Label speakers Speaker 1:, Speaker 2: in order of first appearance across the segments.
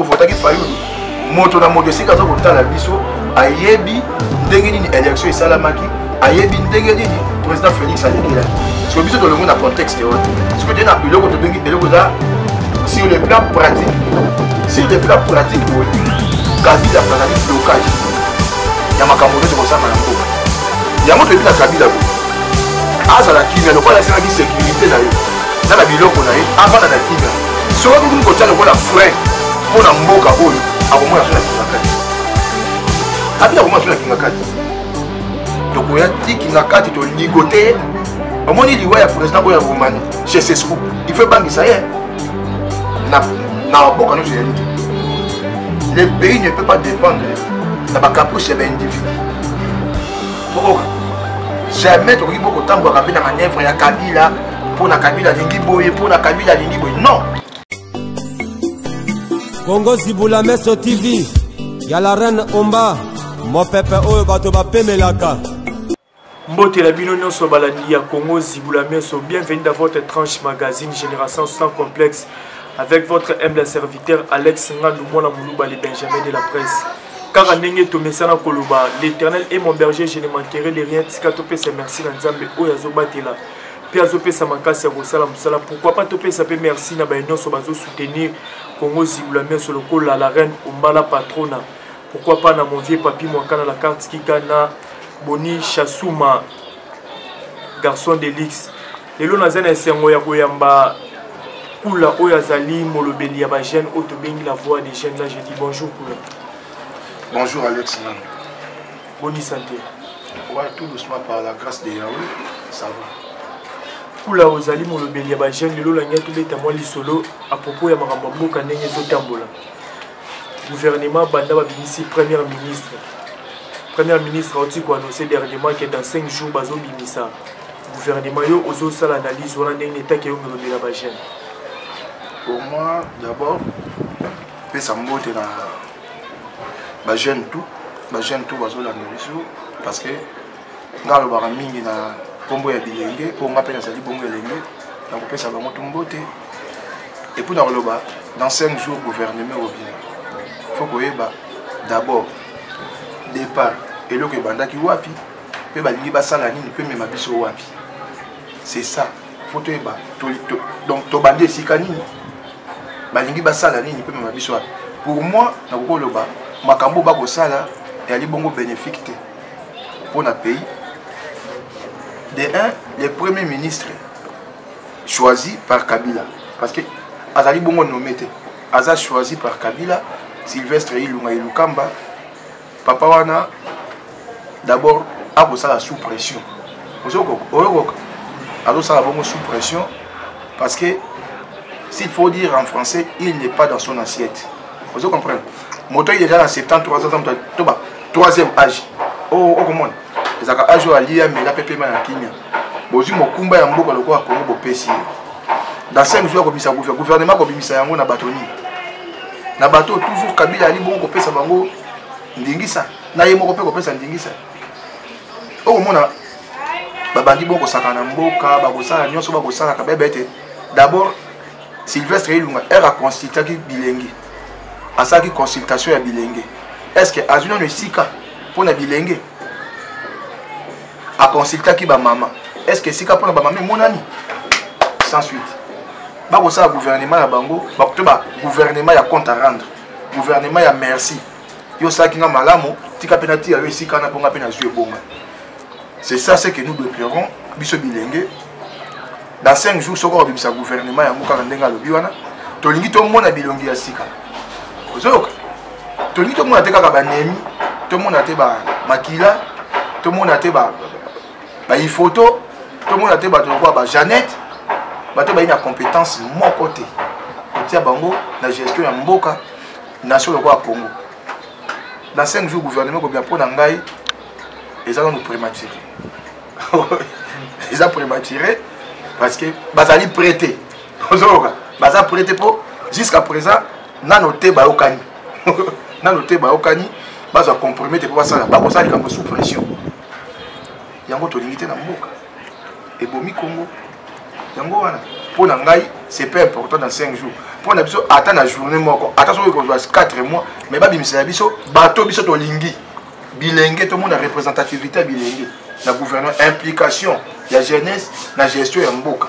Speaker 1: votaki fayulu moto na moto esika aza kotala biso ayebi ndenge nini élection esalamaki ayebi ndenge nini président félix alekelaki siko biso tolongo na contexte wana siko te na biloko tobengi eloko eza sur le plan pratique sur le plan pratique boye kabila azali blocage ya makambo nyonso kosanga na mboka yango toyebi na kabila boye azala kimia lokola asengaki sécurité na yo na na biloko na ye avanda na kimia soki akokimi kotya lokola frein mpo na mboka oyo akomona so na kingakati abi akomona so na kingakati tokoya ti kingakati toligo te omoni liwa ya président oyo ya romani chez sesco il faut ebangisa ye na baboka nyonso ezali te le pays ne peut pas dépendre na bacaprice ya baindividu bokoka jamais tokoki bokotambolaka mpe na manevre ya kabila mpo na kabila alingi boye mpo na kabila alingi boye non
Speaker 2: kongo zibula meso tv ya la reine omba mopepe oyo bato bapemelaka
Speaker 3: mbotela bino nyonso balandi ya congo zibula meso bienvenue dans votre tranche magazine génération sans complexe avec votre humble serviteur alex ngandu mwana moluba le benjamin de la presse kaka ndenge tomesana koloba l'éternel et mon berger je ne manquerai de rien tika topesa merci na nzambe oyo azobatela mpe azopesa makasi ya kosala mosala pourkui pas topesa mpe merci na baye nyonso bazosoutenir congo zilula mioso lokola la reine ombala patrona pourkui pas na mon vieux papi mwankana la carte kika na boni chasuma garçon de lix lelo naza na esengo ya koyamba kula oyo azali molobeli ya bajeune oyo tobengi la voix des jeunes na je dis bonjour kula bonjour
Speaker 1: alex nani boni
Speaker 3: sante owa tout
Speaker 1: doucement par la grâce de yawe ça va kula
Speaker 3: ozali molobeli ya bajeune lelo olangi tobeta mwa lisolo a propos ya makambo ya mboka ndenge ezotambola gouvernement banda babimisi première ministre première ministre auti koannonce dernièrement ke dans 5 jours bazobimisa gouvernement yo ozosala analyse wana ndenge netaki yo molobeli ya bajeune
Speaker 1: pour moi d'abord pesa mbote na ba jeune tout ba jeune tout bazolanda biso parce que nga alobaka mingi na nkombo ya bilenge mpo nga mpe nazali bongo elenge nakopesa bango tu mbote epuis nakoloba dans 5 jours gouvernement obima fo koyeba d'abord départ eloko ebandaki wapi mpe balingi basala nini mpe mema biso wapi c'est ça fo toyeba donc tobandi esika nini balingi basala nini mpe mema biso wapi pour moi nakoki koloba makambo bakosala eyali bongo bénéfique te mpo na pays de un le premier ministre choisi par kabila parce que azali bongo nommé te aza choisi par kabila sylvestre ilunga ilukamba papa wana d'abord akosala sous pression oyokoka azosala bongo sous pression parce que s'il faut dire en français il n'est pas dans son assiette ozo comprendre moto ye eza na 73 ans to ba troisième âge okomona oh, oh, ezalaka âge oyo alia mela mpe pema na kimia bozwi mokumba ya mboka lokola kongo bopesi ye dans 5 jours akobimisa gouvernement akobimisa yango na bato nini na bato oyo toujours kabila ali bongo kopesa bango ndingisa na ye moko mpe kopesa ndingisa okomona babandi bongo kosaka na mboka bakosala nyonso bakosala kabebe ete d'abord sylvestre ilunga ere aconsultaki bilenge asalaki consultation ya bilenge est ce que azwi nano esika mpo na bilenge a consultaki ba mama est ce que esika mpona ba mama emonani sans suite bakosala gouvernement ya bango bakuto ba gouvernement ya compte à rendre gouvernement ya merci yo osalaki nga malamu tika mpe natiya yo esika wana mpo nga mpe nazwi ebonga c'est ça ce que nous déplerons biso bilenge dans 5 jours soki okobimisa gouvernement yango kaka ndenge alobi wana tolingi tomona bilongi ya sika ozoyoka tolingi tomona te kaka banemi tomona te makila tomona te baifoto tomona te bato lokola bajanete bato bayi na compétence moko te kotia bango na gestion ya mboka nation lokola congo dans 5 jours gouvernement ekobima mpo na ngai eza nanu prématuré eza prématuré parce que bazali prêté ozoyoka baza prêté mpo jusqu'à présent nano te bayokani nano te bayokani bazwa comprime te mpo basala bakosala likambo sous pression yango tolingi te na mboka ebomi congo yango wana mpo na ngai c'est pas important dans 5 jours mpo na biso ata na journée moko ata soki ekozwa 4 mois mais babimisela biso bato biso tolingi bilenge tomona représentativité ya bilenge na gouvernement implication ya jeunesse na gestion ya mboka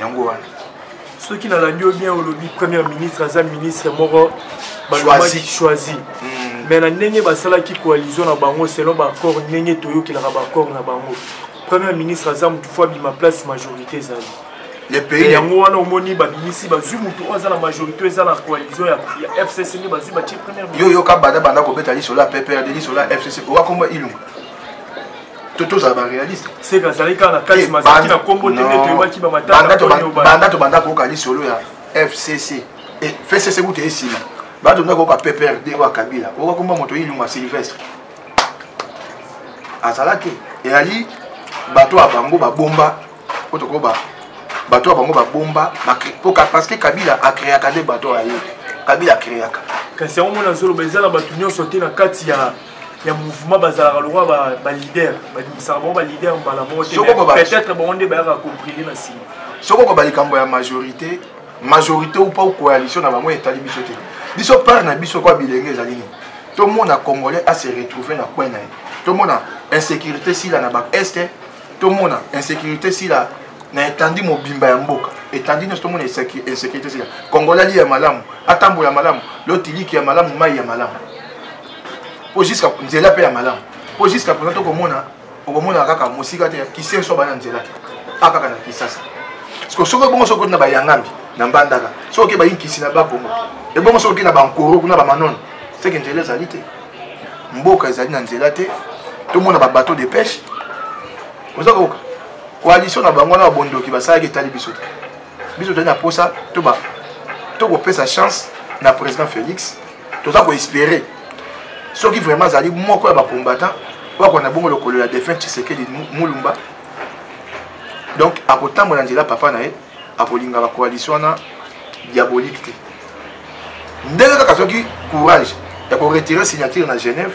Speaker 1: yango wana soki nalandi
Speaker 3: yo bien olobi première ministre aza ministre moko balobaki choisi hmm. mais na ndenge basalaki coalition na bango selon baaccord ndenge toyokelaka baaccord na bango première ministre aza motu fo abima place majorité ezali
Speaker 1: yango wana omoni
Speaker 3: babimisi bazwi motu oyo aza na majorité eza na coalition ya fcc nde bazwi batie première yo yoka banda banda kobeta
Speaker 1: lisolo ya pprd lisolo ya fcc owakomba ilunga to tozala baréaliste seka azalaki kaka na
Speaker 3: kati eh, mazalaki na nkombo te nde toyebaki bamataaobanda tobanda koyoka
Speaker 1: lisolo ya fcc eh, fcc kuta ye nsima banda tobanda koyoka pprd oyo akabila okakomba moto ilunga sylvestre azala te eyali bato ya bango babomba po tokoba bato ya bango babomba parce que kabila akreaka nde bato ya ye kabila akreaka kasi yango mona
Speaker 3: azoloba eza na bato nyonso te na kati ya ya mouvement bazalaka lokola baleader babimisaka bango baleader mbala moko te peut-être bango nde bayaka comprime na nsima soki okoba likambo
Speaker 1: ya majorité majorité ou pas coalition na bango etali biso te biso part na biso kwa bilenge ezali nini tomona congolais ase retrouve na coin na ye tomona insécurité sila na baeste tomona insécurité sila na etandi mobimba ya mboka etandi nyonso tomona insécurité sila congolais ali ya malamu atambola malamu lotiliki ya malamu mai ya malamu mpo jusqu'à nzela mpe ya malamu mpo jusqu'à présent tokomona okomona kaka mosika te kisenso bana nzela te a kaka na kisasa parceke soki ebongo soki na bayangambi na mbandaka soki oke bayinkisi na bakongo ebongo soki na bankoro kuna bamanone seke nzela ezali te mboka ezali na nzela te tomona babateau de pêche oza koyoka coalition na bango wana babondoki basalaki etali biso te biso tozali na mposa to kopesa chance na président félix toza koespere soki vraiment azali moko ya bacombattant oyo akona na bongo lokolo ya défunt tshisekedi mulumba donc akotambola nzela papa na ye akolinga bacoalition wana diabolique te ndenge kaka soki courage ya koretire signature na genève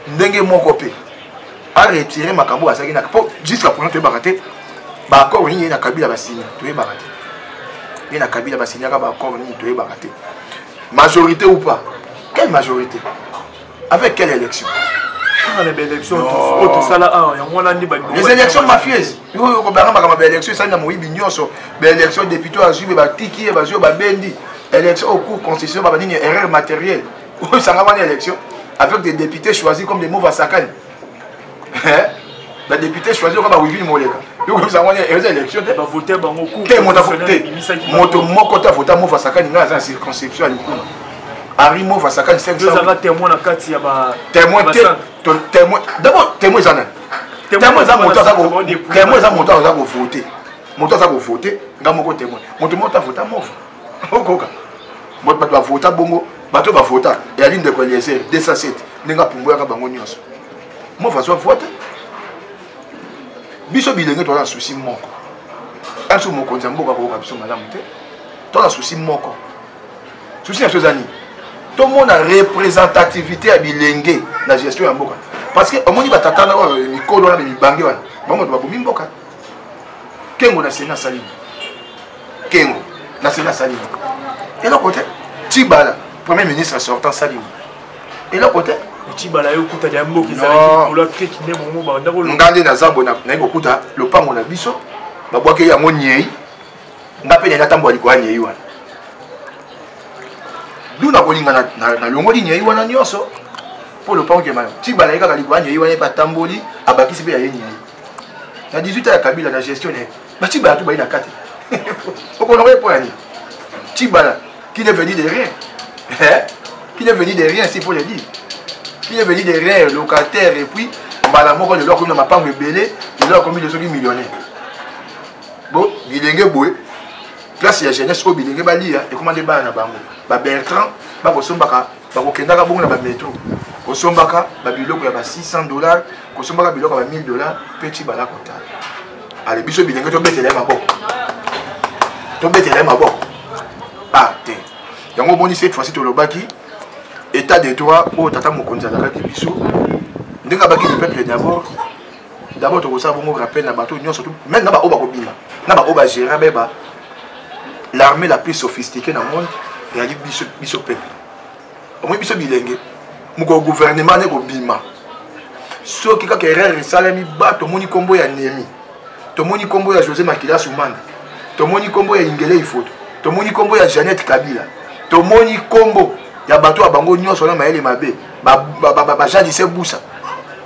Speaker 1: ndenge moko mpe aretire makambo oyo azalaki na po jusqu'à présent toyebaka te baaccord nini ye na kabila basini toyebaka te ye na kabila basinyaka baaccord nini toyebaka te majorité ou pas quelle majorité avec quelle élection
Speaker 3: les élections mafieuses
Speaker 1: oyo kobanga makambo baélection esali na moyibi nyonso baélection député azwi be batiki ye bazwi yo babendi élection au cours constitution baba nini erreur matérielle oyo sanga wana élection avec des députés choisis comme des mauvais sakani badepute choisi oka bawivili moleka moto moko te avota mova sakani ngai aza na circonscription ya likuma henri mova sakani témoin
Speaker 3: d'abord
Speaker 1: témoin eza nani témoin eza moto aza kovote moto aza kovote nga moko témoin moto moko te avota mova okoka bato bato bavota bongo bato oyo bavota eyali ndeko eliezer 207 ndenge apumboyaka bango nyonso mo façon avote biso bilenge toza na susi moko biso mokonzi ya mboka akoyoka biso malamu te toza na susi moko susi na biso eza nini tomona representativité ya bilenge na gestion ya mboka parce que omoni batata na oyo mikolo wana mibange wana bango bato babomi mboka kengo na sena asalini kengo naseli asali eloko te tibala premier ministre sortant salimo eloko te otibala yo okuta
Speaker 3: ya mboka ezalnga nde naza boye naye
Speaker 1: kokuta lopango na biso babwaki yango nyei nga mpe naye natambola likolo ya nyei wana du nakolinga nalongoli nyei wana nyonso mpo lopango kema tibala ye kaka likolo ya nyei wana ye mpe atamboli abakisi mpe ya ye nyei na 18 ya kabila na gestion na ye batibala to bayi na kati okonoko ye mpo ya nini tibala qui ne veut dire de rien eh? qui ne veut dire de rien s'il faut le dire qui ne veut dire de rien locataire et puis mbala moko lelo akomi na mapango ebele lelo akomi lesoki millionnaire bon bilenge boye place ya jeunesse oyo bilenge baliya ekoma nde bana na bango babertrand bakosombaka bakokendaka bongo na bametro kosombaka babiloko ya ba 600 dollars kosombaka biloko ya ba 1000 dollars mpe ti bala kotala ale biso bilenge tobetela ye maboko tobetela ye maboko ah te yango omoni cette fois-ci tolobaki état de droit oyo tata mokonzi azalaki biso ndenge abaki le peuple d'abord d'abord tokosala bongo rappel na bato nyonso meme na baoyo bakobima na baoyo bagéra beba l'armée la plus sophistiquée na monde eyali biso biso peuple omoni biso bilenge mokolo gouvernement ne kobima soki kaka erreur esalami ba tomoni nkombo ya nemi tomoni nkombo ya josé makila sumanda tomoni nkombo ya ingele ifoto tomoni nkombo ya janete kabila tomoni nkombo ya bato ya bango nyonso na mayele mabe bajadise busa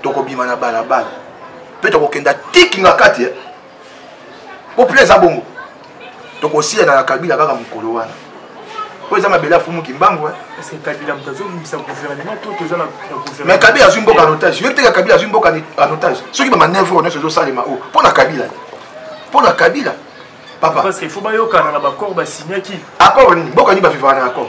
Speaker 1: tokobima na balabala mpe tokokenda tiki na kati eh. populaire eza bongo tokosiyana na kabila kaka mokolo wana oyo eza mabele afumu kimbangu eh.
Speaker 3: mais kabila azwi mboka en
Speaker 1: otage yoki teka kabila azwi mboka en otage soki bamanevre nyonso ezosalema oyo oh, mpo na kabila mpo na kabila papa accord
Speaker 3: nini mboka nini
Speaker 1: bavivaka na accord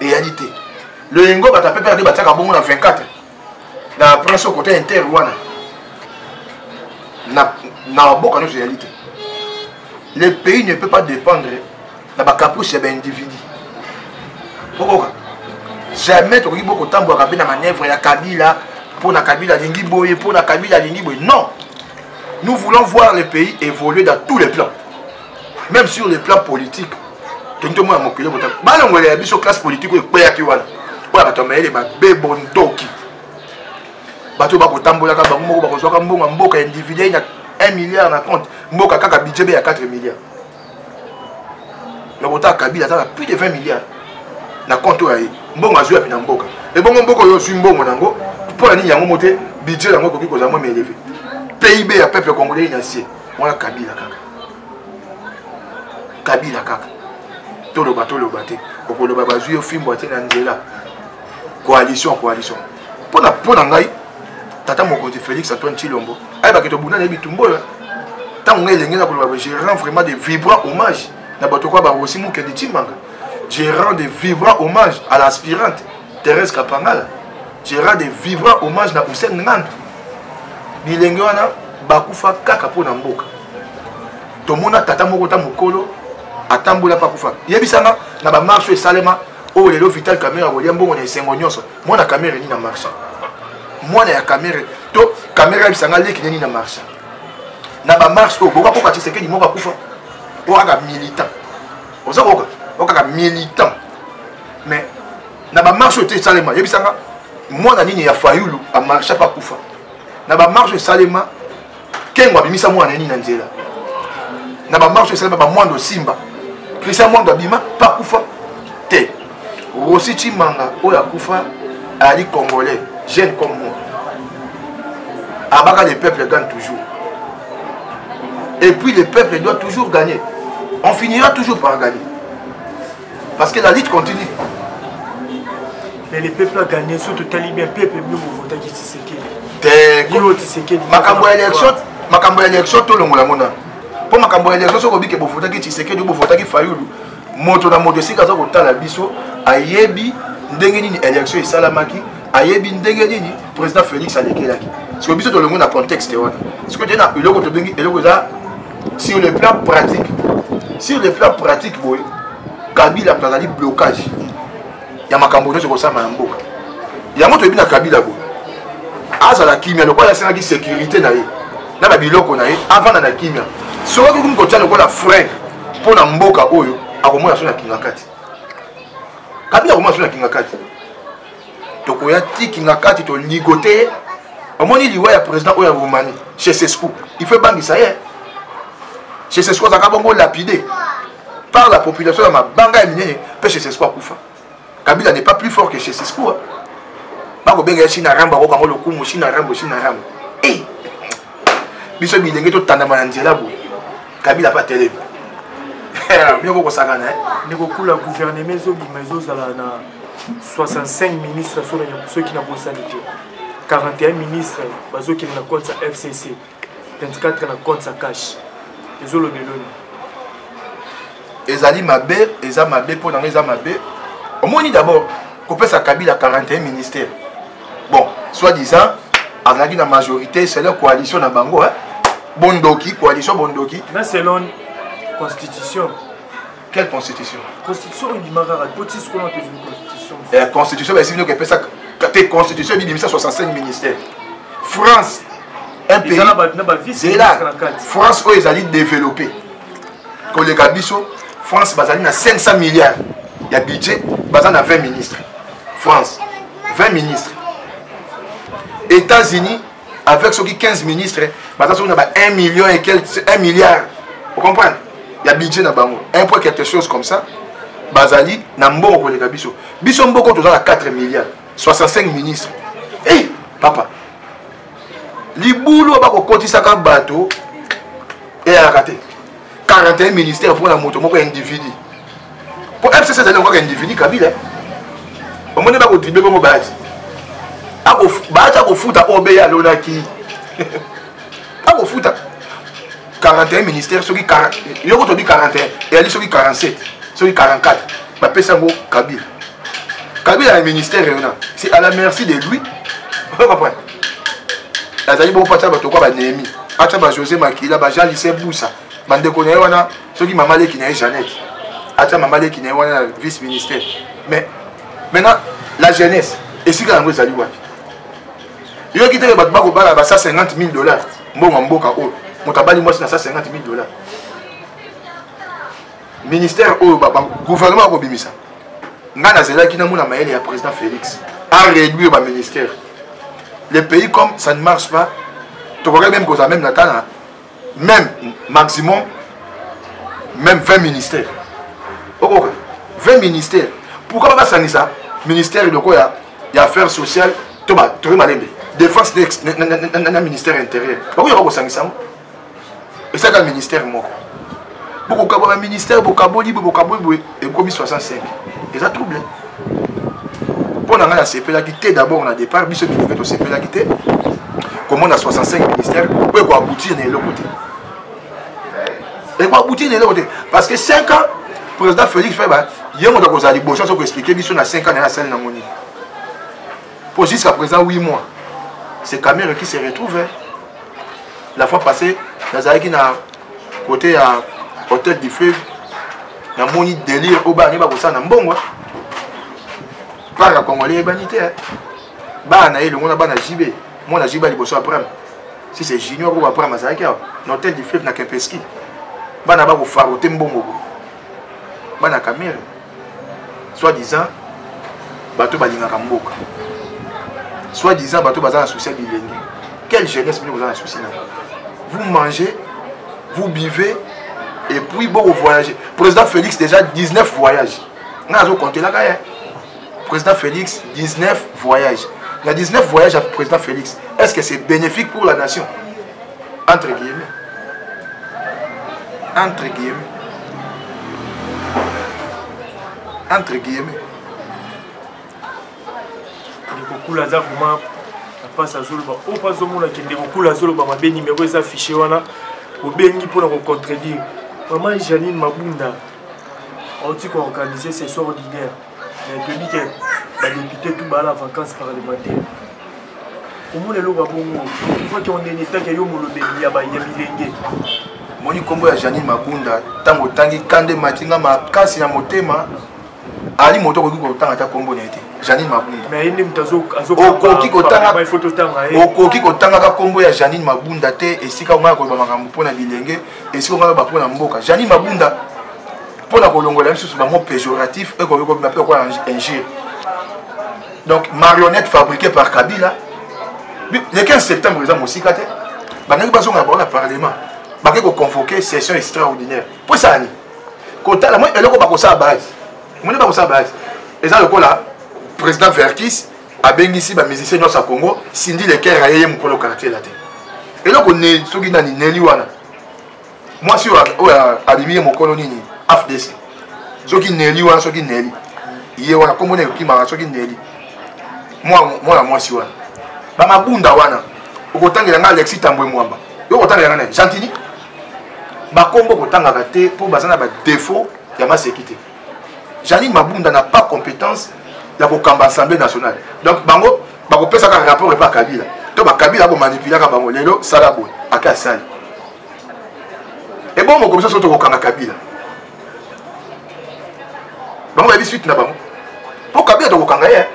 Speaker 1: eyali te loyengo bato ya pepe nde batiaka bongo na 24 na prince au côté inter wana na maboka nyonso eyali te le pays ne peut pas dépendre na bacaprice ya baindividu okoka jamais tokoki bo kotambwaka mpe na manœuvre ya kabila mpo na kabila alingi boye mpo na kabila alingi boye non nous voulons voir le pays évoluer dans tous les plans même sur le plan politique tondi tomona mokili bota balongolela ya biso classe politique oyo ekweyaki wana oyo bato ya mayele babe bondoki bato bakotambolaka bango moko bakozwaka mbongo mboka individuel na 1 milliard na compte mboka kaka budget be ya 4 milliard mais kotaka kabila aza na plus de 20 milliard na compte oyo aye mbongo azwi yapi na mboka ebongo mboka oyo ozwi mbongo na yango mpo na nini yango mo te budget yango ekoki kozala mwa meleve pib ya peuple congolais na sie wana kabila kaka kabila kaka toloba toloba te okoloba bazwi yo fimbo atie na nzela coalition coalition mpona mpo na ngai tata mokonzi félix antoine chilombo ayebaki tobunda na ye bitumba oyo ntango ngai elenge na koloba je rend vraiment de vibrant hommage na bato kwa barosi mokende timbanga je rend de vibrant hommage à l'aspirante Thérèse Kapangala Gérard de vibrant hommage na Hussein Nganda bilenge wana bakufa kaka mpo na mboka tomona tata moko ta mokolo atambola mpe akufa yebisanga na bamarche esalema oyo oh, lelo vital camere akolia mbongo na esengo nyonso mwana camere nini na marche mwana ya camere to camere ayebisanga leki nini na marche na bamarche oyo oh, boka koka tisekedi moko akufa okaka militant oza koka okaka militant mais na bamarche oyo te esalema yebisanga mwana nini ya fayulu amarche mpe akufa na bamarche esalema kengo abimisa mwana nini na nzela na bamarche esalema bamwando osimba christian mwando abima mpe akufa te rosi chimanga oyo akufa ali congolais jeune comme moi abaka le peuple gagne toujours et puis le peuple doit toujours gagner on finira toujours par gagner parce que la lutte continue
Speaker 3: mais le peuple a gagné soki totali bien peuple bino bovotaki tisekeli te tisekeli makambo ya élection makambo ya élection tolongola yango nano mpo makambo ya élection soki obike bovotaki tisekeli bovotaki fayulu moto na moto esika aza kotala biso ayebi ndenge nini élection esalamaki ayebi ndenge nini président félix alekelaki sikoyo biso tolongi na contexte wana sikoyo te na eloko tobengi eloko eza sur le plan pratique sur le plan pratique boye kabila moto azali blocage ya makambo nyonso ekosama ya mboka yango toyebi na kabila boye azala kimia lokola asengaki sécurité na ye na babiloko na ye avanda na kimia soki akoki kotya lokola frein mpo na mboka oyo akomona so na kingakati kabila akomona so na kingakati tokoya tiki nga kati toligote ye omoni liwa ya président oyo ya roumanie chez sescou il faut ebangisa ye chez sescou azalaka bongo lapide par la population ya mabanga ya minene mpe chez sescou akufa kabila n'est pas plus fort que chez sescou bakobenga ye china rambo akokango lokumu china rambo china rambo e biso bilenge totandama na nzela boye kabila mpe atelemi
Speaker 1: bino kokosakana eh? nekokula
Speaker 3: guvernema ezobima ezozala na 65 ministre soki nabosani te 41 ministre bazokende na compte ya fcc 24 na compte ya cash ezolobeloni
Speaker 1: ezali mabe eza mabe mpo nanga eza mabe omoni d'abord kopesa kabila 41 ministère bon soit disant azalaki na majorité sele coalition na bango bondoki coalition bondoki na selon
Speaker 3: constitution quelle
Speaker 1: constitution constitution oyo ebima
Speaker 3: kaka po ti sikoyo nate ezwi constitution ya constitution baesi
Speaker 1: bino kepesa te constitution ebibimisa 65 ministère france un pays zela france oyo ezali développé koleka biso france bazali na 500 milliards ya budget baza na 20 ministre france 20 ministre états-unis avec soki 15 ministre baza soki na ba 1 million et quel 1 milliard ocomprendre ya budget na bango un point quelque chose comme ça bazali na mbongo koleka biso biso mboko toza na 4 milliard 65 ministre e hey, papa libulu bakokotisaka bato eyalaka te 41 ministère mpo na moto moko ya individu mpo fcc ezali yango kaka individu kabila omoni bakotribe bongo baati baati akofuta obe alonaki akofuta 41 ministère soki yoko tobi 41 eyali soki 47 soki 44 bapesa yango kabila kabila ya ministère yona c'est à la merci de lui azali bongo mpo atya bato kwa banehemi atya bajosé makila bajean lise busa bandeko na ye wana soki mama leki na ye janete atya mama leki na ye wana na vice ministère mais maintenant la jeunesse esika yango ezali wapi yoki teke bato bakobala ba 150 000 dollars mbongo ya mboka oyo moto abali mwasi na 150 000 dollars ministère oyo gouvernement akobimisa ngai nazelaki namona mayele ya président félix a réduire baministère le pays comme ça ne marche pas tokokaki meme kozala meme natana même maximum même 20 ministère okoka 20 ministère pourquoi basangisa ministère eloko ya ya affaire sociale to toye malembe défense na ministère intérieur bakoyaka kosangisa yango esaka ministère moko bokokaba ba ministère bokaboli boye bokaboli boye ekomi 65 eza trouble mpo na ngai nasepelaki te d'abord na départ biso bilingi tosepelaki te komona 65 ministère oyo ekoaboutir na eloko te ekoaboutir na eloko te parce que 5 ans président félix feba ye moto akozala liboso soki koexplike biso na 5 ans na ye asali nango nini Pour jusqu'à présent 8 mois. C'est Kamere qui se retrouve. Hein. La fois passée, nazalaki na côté ya hôtel du fleuve namoni délire oyo bana bakosala na mbongo hein. parc ya congolais eyebani te hein. bana na ye elongo na bana jb mwana jb liboso aprame si c'est junior oyo aprame azalaki awa na hôtel du fleuve na kempeski bana bakofarote mbongo bana kamere soit disant bato balingaka mboka soit disant bato baza na souci ya bilenge quelle jeunesse bino boza na souci na vous mangez vous bivez et puis boko voyage président félix déjà 19 voyage ngai azokontelaka ye président félix 19 voyage na 19 voyage ya président félix est ce que c'est bénéfique pour la nation entre guillemets entre guillemets entre guillemets
Speaker 3: ndekokula aza vraimen apasi azoloba oyo mpo azomona ke ndekokula azoloba mabe nimero eza affiche wana obengi mpona kocontredire maman janine mabunda auti koorganize ses ordinaire mais toyebi te badepute tout baa na vacance parlementaire komona eloko ya bongo faki ondeni etake yo molobeli ya bilenge moni
Speaker 1: nkombo ya janine mabunda ntango otangi kande mati nga makasi na motema ali moto okoki kotanga ata nkombo na ye te janine
Speaker 3: mabundaokoki
Speaker 1: kotangaka nkombo ya janine mabunda te esika omaya koloba makambo mpo na bilenge esika omaya koloba mpo na mboka janine mabunda mpo na kolongola lisusu bango péjoratif ekoki kobima mpe okola injure donc marionnette fabriquée par kabila le 15 septembre eza mosika te bandaki bazonga bango na parlement bake koconvoke session extraordinaire mpo esala nini kotala moi eloko bakosala base moni bakosala base eza lokola président verkis abengisi bamusicien nyonso ya congo sindi leker ayeye mokolo quartier la te eloko soki nani neli wana mwasi oyo abimi ye mokolo nini afdc soki neli wana soki neli ye wana kombo nini ekokimaka soki neli mwana mwasi wana bamabunda wana okotangela ngai alexi tambwe mwamba yo okotangela ngai na gentini bakombo okotangaka te mpo baza na badefaut ya maseki te janine mabunda na pas compétence ya kokamba assemblée nationale donc bango bakopesaka rapport epa kabila to bakabila akomanipulaka bango lelo sala boye ake asali ebongo komisa so tokokanga kabila bango bayebi suite na bango mpo kabila tokokanga ye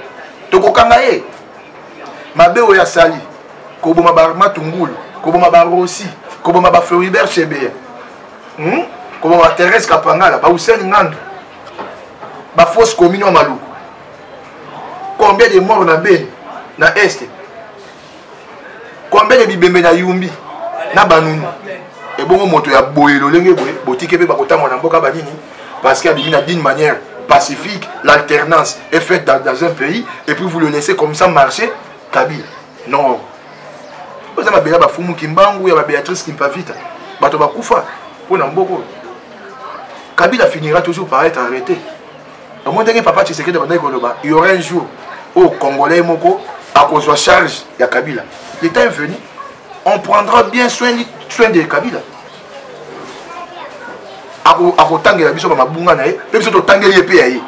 Speaker 1: tokokanga ye mabe oyo asali koboma bamatungulu koboma barosi koboma bafloribert chebeya hmm? koboma batherese kapangala bauseni ngandu bafausse commune ya maluku combien de mort na beni na este combien de bibembe na yumbi na banunu ebongo moto ya boye lolenge boye botike mpe bakotambola na mboka banini parce que abimi na d'une manière pacifique l'alternance est faite dans, dans un pays et puis vous le laissez comme ça marcher kabila non oza babela bafumu kimbangu ya babéatrice kimpavita bato bakufa mpo na mboko kabila finira toujours par être arrêté omo ndenge papa tshisekedi abandaki koloba il y aura un jour oyo congolais moko akozwa charge ya kabila le temps est venu on prendra bien soin, soin de kabila akotangela biso bamabunga na ye mpe biso totangeli ye mpe ya ye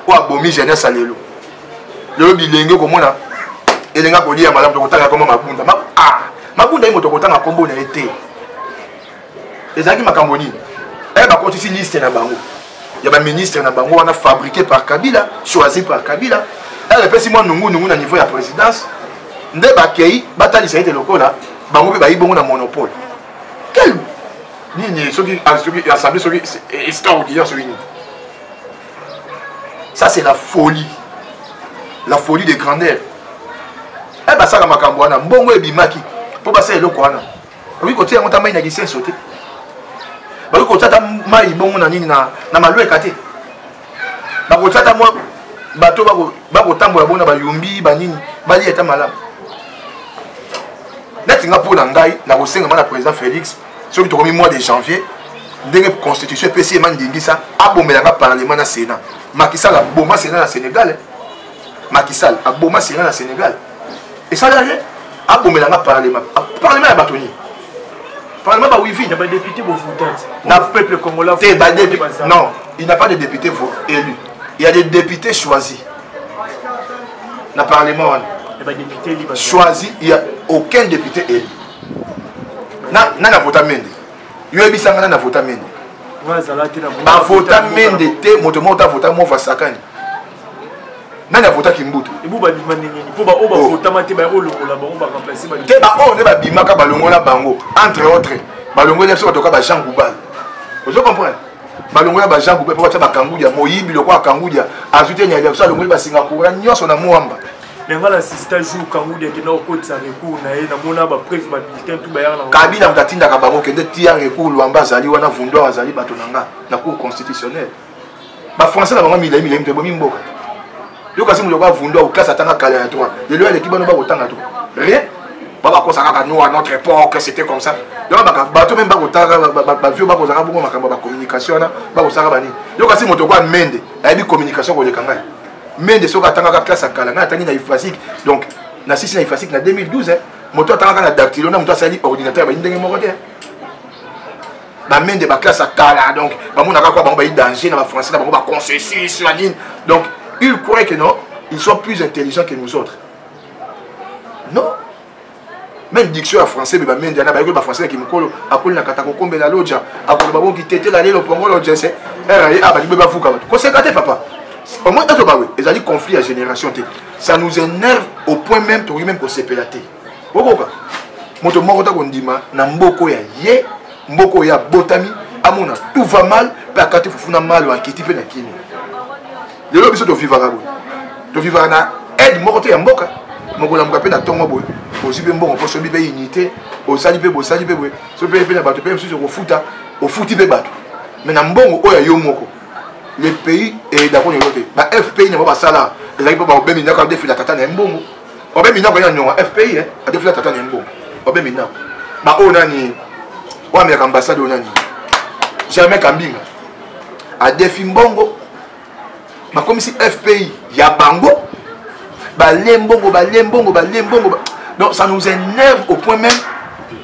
Speaker 1: oyo abomi jeunesse ya lelo lelo bilenge okomona elenga kolia malamu tokotanga koma mabunda ah, mabunda ye moto akotanga nkombo na ye te ezalaki makambo nini eh, bakotisi liste na bango ya baministre na bango wana fabriqué par kabila choisi par kabila eh, epesi mwa nungunungu na niveau ya présidence nde bakei batalisa ete lokola bango mpe bayi bongo na monopole quel nini soki ah, assemblée soki extraordinaire soki nini ça c'est la folie la folie de grandeur e eh, basala makambo wana mbongo ebimaki mpo basala eloko wana okoki kotia yango ta mai na lisenso te bakoki kotia ta mai bongo na nini na malweka te bakotia ta mwa bato bakotambola bona bayombi banini balia eta malamu neti nga mpo na ngai nakosenga ma na président félix soki tokomi mois de janvier ndenge constitution epesi ye mandingisa abomela nga parlement na sénat makisala boma sénat na sénégal makisal aboma sena na sénégal esala rien abomela nga parlement ah, parlement ya bato nini parlement ba wivi na badepute bovotante
Speaker 3: na peuple congolais te badepute non
Speaker 1: il n'a pas de député élu il y a des députés choisis na parlement wana choisi il y a aucun député élu na na na vota mende yo yebisa nga na na vota mende bavota mende te moto moko ta vota mova sakani nani avota kimbuta ebu babima ndenge nini
Speaker 3: mpo baoyo bavotama te baye kolongola bango baremplace te baoyo nde babimaka
Speaker 1: balongola bango entre autres balongola biso batoka bajean goubal ozo comprendre balongola bajean goubal mpo batya bakangudia moyibi lokola kangudia azwi te nyali biso alongoli basingapura nyonso na mwamba me ngai na sista
Speaker 3: jour kangudi akenda kokotisa recours na ye namona bapreve babulletin tu bayaka na kabila moto atindaka bango
Speaker 1: kende tia recours lwamba azali wana vundoir azali bato na nga na cour constitutionnelle ba français na bango milai milai mitobomi mboka yo kasi moto okoa vundu akoklase atanga kala ya toi lelo aleki bano bakotanga to rien babakosa kaka nous à notre époque c'était comme ça donc bato meme bakotanga bavio bakozaka bongo makambo ya bacommunication wana bakosaka banini yo kasi moto okoa mende ayebi communication koleka ngai mende soki atangaka classe ya kala ngai atangi na ifasique donc na sisi na ifasique na 2012 moto atangaka na dactilo na moto asali ordinateur bayi ndenge moko te bamende baklasse ya kala donc bamonaka kua bango bayi danger na bafrançais na bango baconcesus na nini donc il croit que non ils sont plus intelligents que nous autres non même diction ya français beba mende ana bayekoli bafrançais ya kimokolo akoli na kata kokombela loja akoloba bongi tetela lelo pongolo jese raye a balingi bebafuka bato koseka te papa omoi etobawe ezali conflit ya génération te ça nous énerve au point même tokoki même kosepela te okoka moto moko ta kondima na mboko ya ye mboko oyo abotami amona tout va mal mpe akati fufu na malo akiti mpe na kimi lelo biso tovivaka boye tovivaka na aide moko te ya mboka mokolamuka mpe na ntongo boye ozwi mpe mbongo mpo sobi mpe unité osali mpe bosali mpe boye soki mpe mpe na bato mpe mosusu okofuta ofuti mpe bato me na mbongo oyo ya yo moko le pays eyeda koni yo te ba fpi na bango basala ezalaki mpo bakobemi ndako ya defila tata na ye mbongo obe minako ya nyonga fpi eh? adefila tata na yango obe minako baoyo nani oyo ameyaka ambassade oyo nani germain kambinga adefi mbongo bakomisi fpi ya bango balie mbongo balie mbongo balie mbongo donc ça nous énerve au point même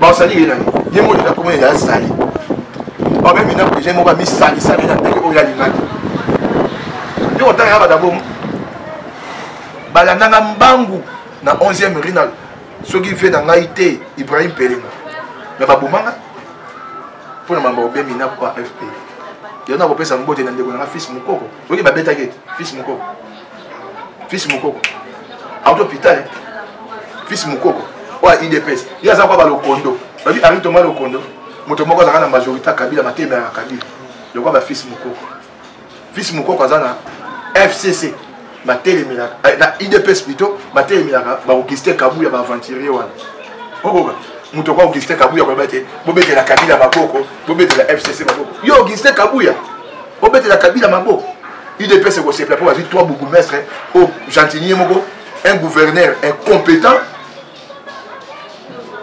Speaker 1: bazali ye nani ye moko eza komona eza azali babe mina proje moko amisalisa na ndenge oyo alingaki yo otanga ya badabomo balandanga mbangu na 11e rue na soki vie na ngai te ibrahim pelengo me babomanga mpo na mambo obemi na kwa fp yango nakopesa mbote na ndeko na nga fils mokoko oyoki babetaki ete fils mokoko fils mokoko auti hôpital eh. fils mokoko oyo ya idps ye aza kwa balokondo babi henri toma lokondo moto moko azalaka na majorité ya kabila matema ya kabila lokwa ba fils mokoko fils mokoko aza na fcc batelemelaka eh, na idps plutôt batelemelaka baokiste kabu ya baaventurier wana okoka moto kwa augustin kabuya koloba te bobetela kabila maboko bobetela fcc maboko yo augustin kabuya obetela kabila maboko udps ekosepela mpo bazwi trois bourgoumestre o oh, gentinier moko un gouverneur incompétent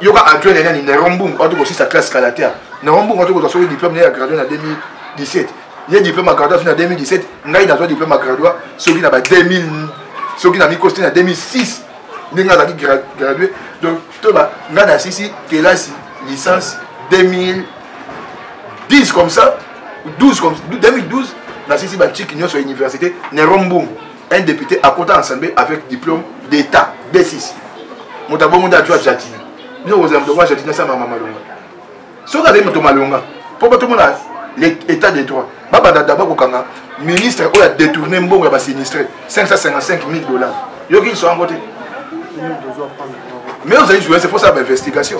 Speaker 1: yoka adjoint nani nerombung oto kosisa classe kalatea nerombung oto kozwa soki diplôme naye ya gradue na 2017 ye diplôme ya gradua soki na 2017 ngai nazwa diplôme ya gradua soki na ba 2000 soki na mikosi te na 2006 ndenge azalaki gradue donc toba ngai nasisi kelasi licence 2010 comme ça 12 comme 2012 nasisi bantiki nyonso ya université nero mbungu un député akota na assemblée avec diplôme d'état d6 moto abongo nde ajwa jati bino kozala moto kozwa jati nasala mama malonga soki azali moto malonga mpo batomona l'état de droit babanda daba kokanga ministre oyo adetourne mbongo ya basinistre 555 000 dollars yoki liso yango te mais ozali journaliste faut sala bainvestigation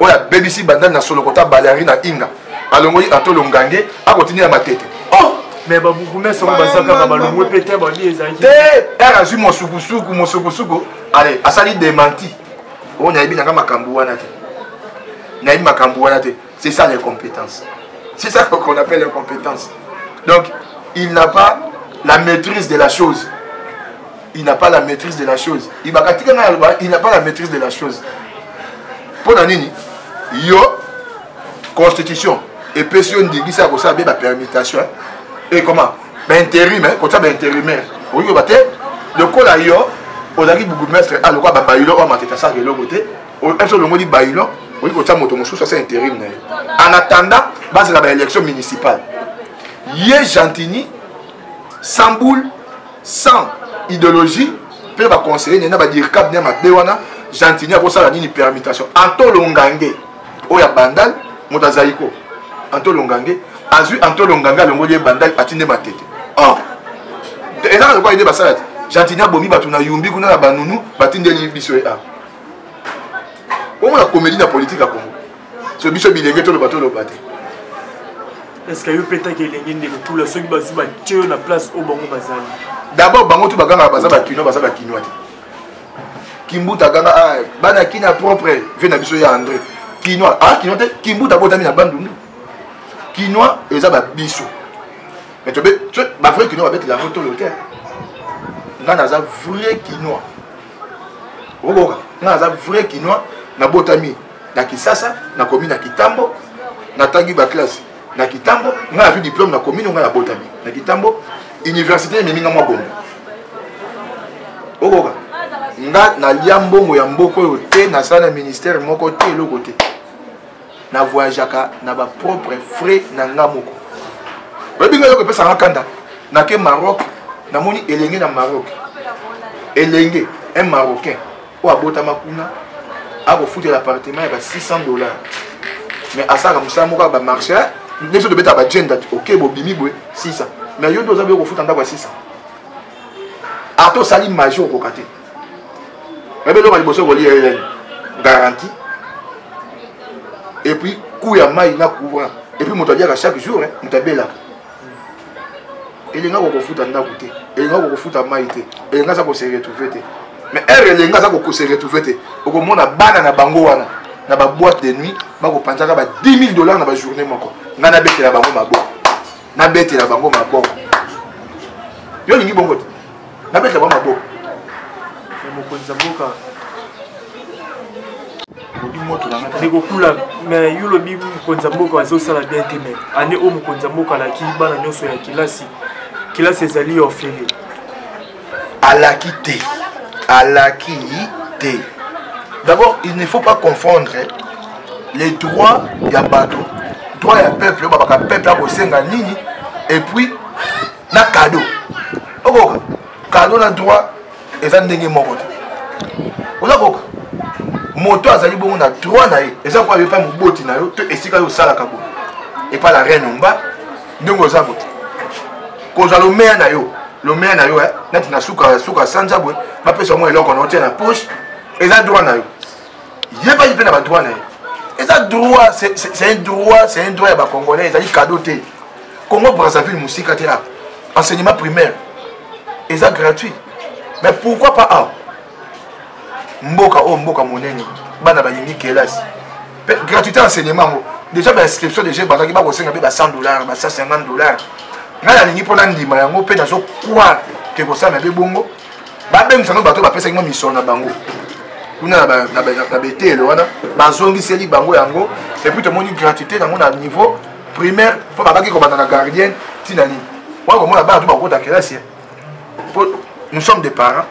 Speaker 1: oyo abebisi bandani na solo kota baleari na inga alongoli antolo ngange akotinda ya matete oh! mais babourgmestre
Speaker 3: oyo bazakaka balongwe mpe te babi ezali te r azwi
Speaker 1: mosukusuku mosukusuku ale asali demanti oyo oh, nayebi nanga makambo wana te nayebi makambo wana te c'est ça les compétences c'est ça qu'on appelle les compétences donc il n'a pas la maîtrise de la chose il n'a pas la maîtrise de la chose ibaka tika ngai aloba il n'a pas la maîtrise de la chose mpo na nini yo constitution epesi yo ndingisa ya kosala be bapermutation e comment bainterim kotya bainterimaire okoki koba te lokola yo ozalaki bourgmestre a ah, lokola babayilo oyo matete asalaka eloko te mpe olongoli bayilo okoki kotya moto mosusu asa interim na ye en attendant bazala baélection municipale ye gentini sans boule sans idéologie mpe baconseiller ne na badircab ne ya mabe wana gentini akosala nini permutation antolongange oyo ya bandal moto azaiko antolongange azwi antolongange alongoli ye bandal atinde matete or ezaka lokola ide basala te gentini abomi bato na yumbi kuna na banunu batindeli biso ye a omona komedi na politike ya kongo so biso bilenge toloba toloba te
Speaker 3: eske yo petaki elenge ndeko tula soki bazwi batye yo na place oyo bango bazali d'abord bango tu
Speaker 1: bagangaka baza bakino baza bakinois te kimbuta aganga ah, bana kina propre vie na biso ya andre kinois ah kinois te kimbuta abotami na bandundu kinois eza babiso mais tobe bavrai kinois babetela yango tolo te ngai naza vrai kinois okokoka ngai naza vrai kinois nabotami na kisasa nakomi na kitambo natangi baklasse na kitambo ngai nazwi diplome na komino ngai nabotami na kitambo université ememi ngai mwa bongo okoka ngai nalia mbongo ya mboka oyo te nasala na ministère moko te eloko te na voyageaka na bapropre frais na ngai moko oyebi ngai eloko epesaka ngai kanda nake maroc namoni elenge na maroc elenge un marocain oyo abotama kuna akofutela appartement ya ba 600 dollars mais asalaka mosala moko ya bamarché biso tobeta bagenda oke bobimi boye 600 mais yo nde oza boye kofuta ndako ya 600 ata osali maji okoka te nayebi eloko ya liboso kolia eyani garantie epuis coût ya mai na courant epuis moto aliaka chaque jour moto abelaka elenga kokofuta ndako te elenga kokofuta mai te elenga aza kose retrouve te mais heure elenga aza kokose retrouve te okomona bana na bango wana na baboite de nuit bakopanzaka ba 10 000 dollars na bajournée moko ngai nabetela bango maboko nabetela bango maboko yo olingi bongo te nabeta ba maboko ya mokonzi ya mboka
Speaker 3: ekokula me yo lobi mokonzi ya mboka azosala bien te me ane oyo mokonzi ya mboka alaki bana nyonso ya kelasi kelasi ezali ofele alaki
Speaker 1: te alaki te d'abord il ne faut pas confondre les droits ya bato droit ya peuple oyo babaka peuple akosenga nini et puis na kado okoka kado na droit eza ndenge moko te oza koka moto azali bongo na droit na ye eza koya epai moboti na yo to esika yo osalaka boye epai la reine omba ndenge oza boye kozwa lomeya na yo lomeya na yo eh, neti na suka suka sanza boye bapesa yango eloko na otia na poche eza droit na yo yebaki mpe na badroit na ye eza droit c'est un droit c'est un droit ya bacongolais ezali cadeau te congo brazzaville mosika te awa enseignement primaire eza gratuit mais pourquoi pas awa mboka oyo oh, mboka monene bana balingi kelasi mpe gratuité enseignement yango déjà bainscription déjà ebandaki bakosenga mpe ba 100 dollar ba 150 dollar ngai nalingi mpo nandima yango mpe nazo croire ke kosala mpe bongo babengisa yango bato bapesaki mwa misolo na bango kuna na betele wana bazongiseli bango yango epuis tomoni gratuité yango na niveau primaire mpo babaki kobanda na gardienne ntina nini wana komona bana to bakokota kelasi eh. mpo nous sommes des parents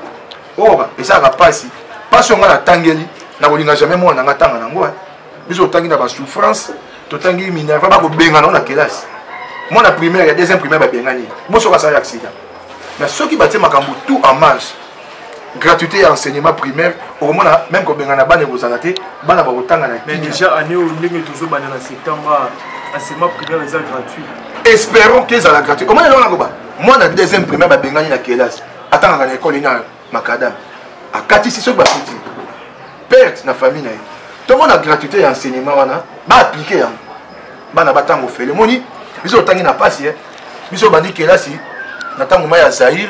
Speaker 1: oyo oh, esalaka mpasi mpasi oyo ngai natangeli nakolinga jamais mwana nanga ntanga nango eh. biso totangi na basouffrance totangi minerva bakobengana yango na kelasi mwana primaire ya deuxième primaire babengani bosoka asali accident mais soki batie makambo tout en marche gratuité ya enseignement primaire okomona meme kobengana bana ekozala te bana bakotanga na mais déjà année oyo ndenge
Speaker 3: tozobanda na septembre enseignement primaire eza gratuit espérons que
Speaker 1: ezala gratuit omoni eloko nakoba mwana deuxième primaire babengani na kelasi atangaka na ekole na makadame akatisi soki bakuti perte na famille na ye tomona gratuité ya enseignement wana baaplike yango bana batango fele moni biso otangi na mpasi eh. biso obandi kelasi na ntango mai ya zaire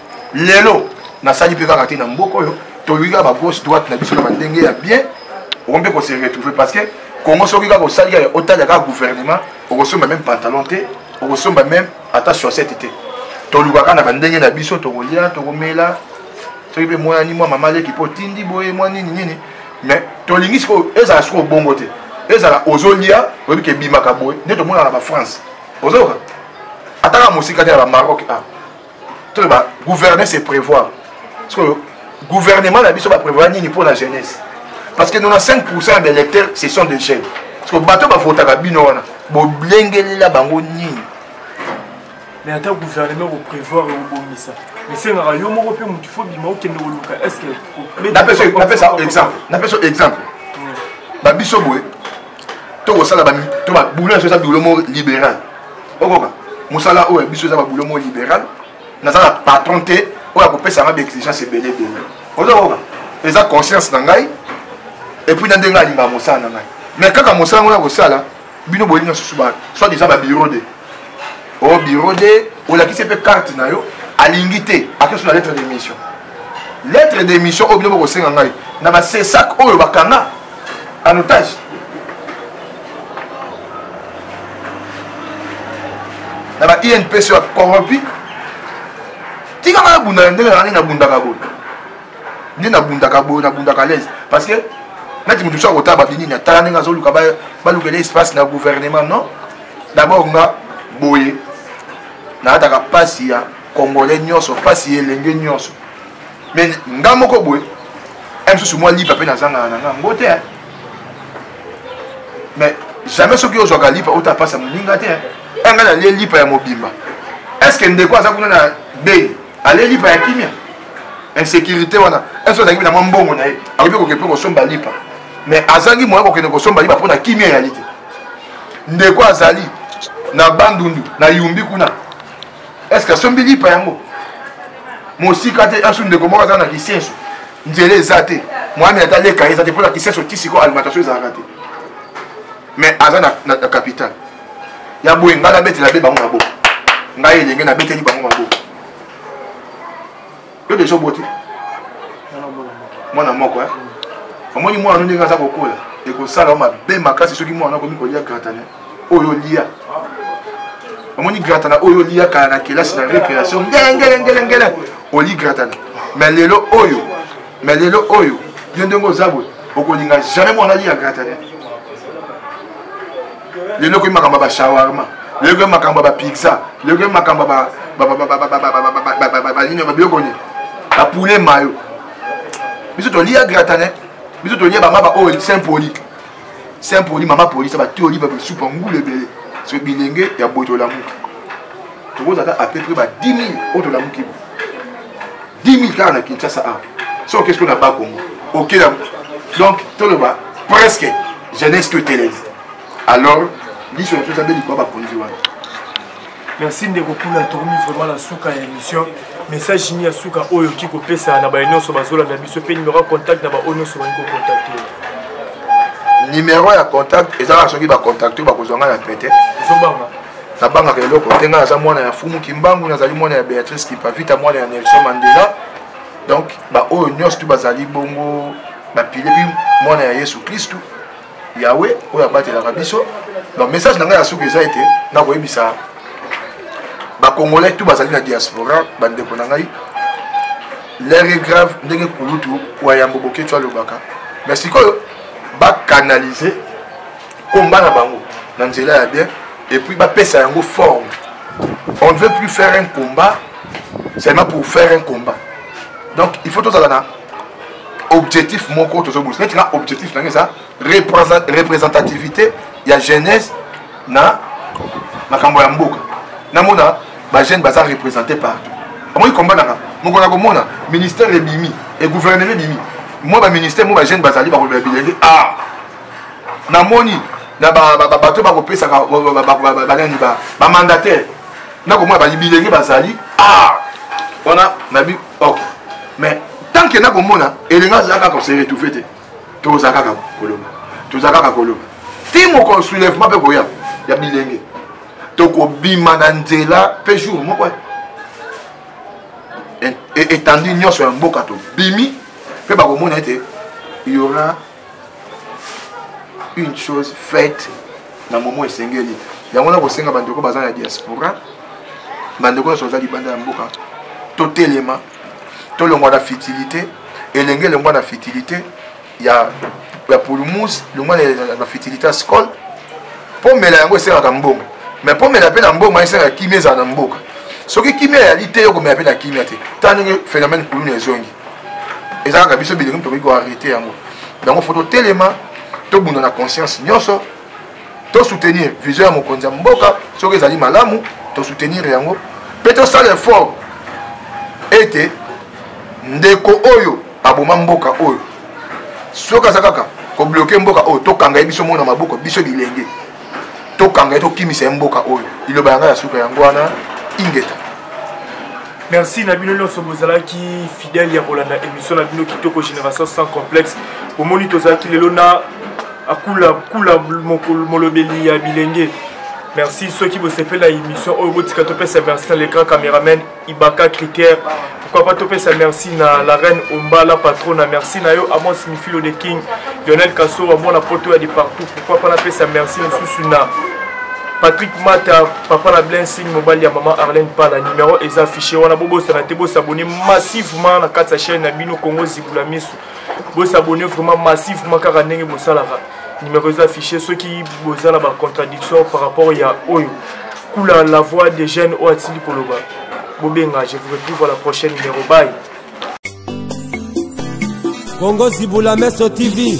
Speaker 1: lelo nasali mpe kaka te na mboka oyo toyoki kaka bagauche droite na biso na bandenge ya bien okomi mpe kose retrouve parce que congo soki kaka osali kaka otala kaka gouvernement okosomba meme pantalon te okosomba meme ata chaussette te tolukaka na bandenge na biso tokolia tokomela soki mpe mwanani mwa mama leki mpo otindi boye mwa nini nini mais tolingi sikoyo ezala sikoyo bongo te ezala ozolia oyebi ke ebimaka boye nde tomonaka na bafrance ozoyoka ataka mosika te ya bamaroc a ah. toyeba gouverner c'est prévoir sikoyo gouvernement na biso baprévoir nini mpo na jeunesse parce que 95 pourcent ya baélecteur ce sont des jeunes sikoyo bato bavotaka bino wana bolengelela bango nini
Speaker 3: mais ata gouvernement koprévoir ekobongisa esengaka yo moko mpe motu fo bima okende koluka estce
Speaker 1: napesa exemple babiso boye tokosala to babulo nyonso eza bilo mo libéral okoka mosala oyo biso eza babulo mo libéral naza na patron te oyo akopesa ngai baexigence ebele ebele ozokoka eza conscience na ngai epuis na ndenge alingaka mosala na ngai mais kaka mosala ngo na kosala bino bolinga susu ba soit disant babiro de au bureau de olakisi mpe carte na yo alingi te akesu na lettre d'émission lettre d'émission oyo bino bokosenga ngai na basesak oyo bakanga en otage na ba inps ya corrompu tika ngai nabunda na ndenge na ngai nabundaka boye nde nabundaka boye nabundaka lese parce que neti moto mosusu akotala babinini atala ndenge azoluka balukela espace na gouvernement non D'abord nga boye naataka pasi ya congolais nyonso pasi ya elenge nyonso me nga moko boye eh, mosusu mwa lipa mpe nazangaka na nga yango te mais jamais soki ozwaka lipa ota pasi ya moninga te eh, nga nalie lipa ya mobimba est ce que ndeko aza kuna na bei alie lipa ya kimia insécurité wana est ce que azangi na mwa mbongo na ye akoki koke mpe kosomba lipa mais azangi moya kokende kosomba lipa mpo na kimia ya lite ndeko azali na bandundu na yumbi kuna eske asombi lipa yango mosika te asu ndeko moko aza na kisenso nzela eza te mwami ata leka eza te mpo na kisenso ti sikoyo alimentation ezalaka te mais aza na, na, na capital ya boye ngai nabetela be bango maboko ngai elenge nabeteli bango maboko yo deja oboti mwana moko eh? omoni mwana no ndenge aza kokola ekosala yo mabe makasi soki mwana no akomi kolia gratane oyo olia omoni gratana oyo olia kala na kelasi na récréation ngelengelengelengele oli gratana mais lelo oyo mais lelo oyo yo ndenge oza boye okolinga jamais mwana alia gratane lelo okoyi makambo ya bashawarma lelo okoyi makambo ya bapizza lelo okoyi makambo banini babiloko nini bapoulet mayo biso tolia gratane biso tolia bamaba oyo saint poli saint poli mama poli sa batoli basupa ngulu ebele so bilenge ya boye tolamuki tokozala ata à peu près ba 10 000 oyo tolamuki bo 10 000 kaka na kinshasa awa so okesi ko na ba congo okela donc toloba presque jeunesse to etelemi alors liso na biso ezabeli kwa bakonzi wana
Speaker 3: merci ndeko kuna tokomi vraiment na suka ya émission message nini ya suka oyo oki kopesa na baye nyonso bazolanda biso mpe numero ya contact na baoyo nyonso balingi kokontakte
Speaker 1: numero ya contact eza kaka soki bakontakte bakozwa ngai na pete ezobanga
Speaker 3: nabangaka
Speaker 1: eloko te ngai naza mwana ya fumu kimbangu nazali mwana ya béatrice kipavita mwana ya nelson mandela donc baoyo nyonso tu bazali bongo bapile mpe mwana ya yesu kristu yawe oyo abatelaka biso donc message na ngai ya suki eza ete nakoyebisa bacongolais tu bazali na diaspora bandeko na ngai lere grave ndenge kulutu wayambo boketsho alobaka mais sikoyo bakanalize combat na bango na nzela ya bien et puis bapesa yango forme on ne veut plus faire un combat seulement pour faire un combat donc il faut tozala na objectif moko tozobulisa neti na objectif nange eza représentativité ya jeunesse na makambo ya mboka namona bajeune baza représenté partout amoki komba nanga mokolo ya komona ministère ebimi egouvernement ebimi mwa baministère mwa bajeune bazali bakolobela bilenge a ah, namoni na bato bakopesaka banani bamandataire nakomona babilenge bazali ah! wana nabi ok mais tant que nakomona elenga aza kaka koseretouve te toza kaka koloba toza kaka koloba ti mokolo soulèvement mpe koya ya bilenge tokobima na nzela mpe jour moko etandi nyonso ya mboka tobimi mpe bakomona ete yora une chose faite na momo esengeli yango na kosenga bandeko baza na diaspora bandeko nyonso baza libanda ya mboka totelema tolongwa na fitilité elenge elongwa na fitilité ya ya pulmus longwa na fitilité ya scole pomela yango esengaka mbongo mais pomela mpe na mbongo esengaka kimia ezala na mboka soki kimia eyali te yo komela mpe na kimia te ntango ndenge phénomène kuluna ezongi eza kaka biso bilenge tokoki koarrete yango yango fo totelema tobunda na conscience nyonso tosoutenir vision ya mokonzi ya mboka soki ezali malamu tosoutenir yango mpe tosala effort ete ndeko oyo aboma mboka oyo soki aza kaka kobloke mboka oyo tokanga ye biso mona maboko biso bilenge tokanga ye tokimisa ye mboka oyo liloba yanga ya suka yango wana ingeta
Speaker 3: merci na bino nyonso bozalaki fidèle ya kolanda émission na bino kitoko génération sans complexe bomoni tozalaki lelo na akula kula molobeli ya bilenge merci soki bosepela émission oyo botika topesa merci na l'écran cameraman ibaka critère pourquoi pas topesa merci na la reine ombala patrona merci na yo amos mifilo de king lionel kasora mwana poto ya de partout pourquoi pas napesa merci mosusu na patrick mata papa na blensing mobali ya mama arlene pala numero eza affiché wana bobosana te bosabone massivement na kati ya chaîne na bino congo zibula miso bosabone vraiment massivement kaka ndenge bosalaka numero eza affiché soki boza na bacontradiction par rapport ya oyo kula la voix des jeunes oyo atili koloba bobenga je vous retrouve à la prochaine numero baye
Speaker 2: kongo zibula meso tv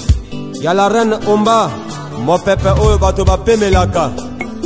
Speaker 2: ya la reine omba mopepe oyo bato bapemelaka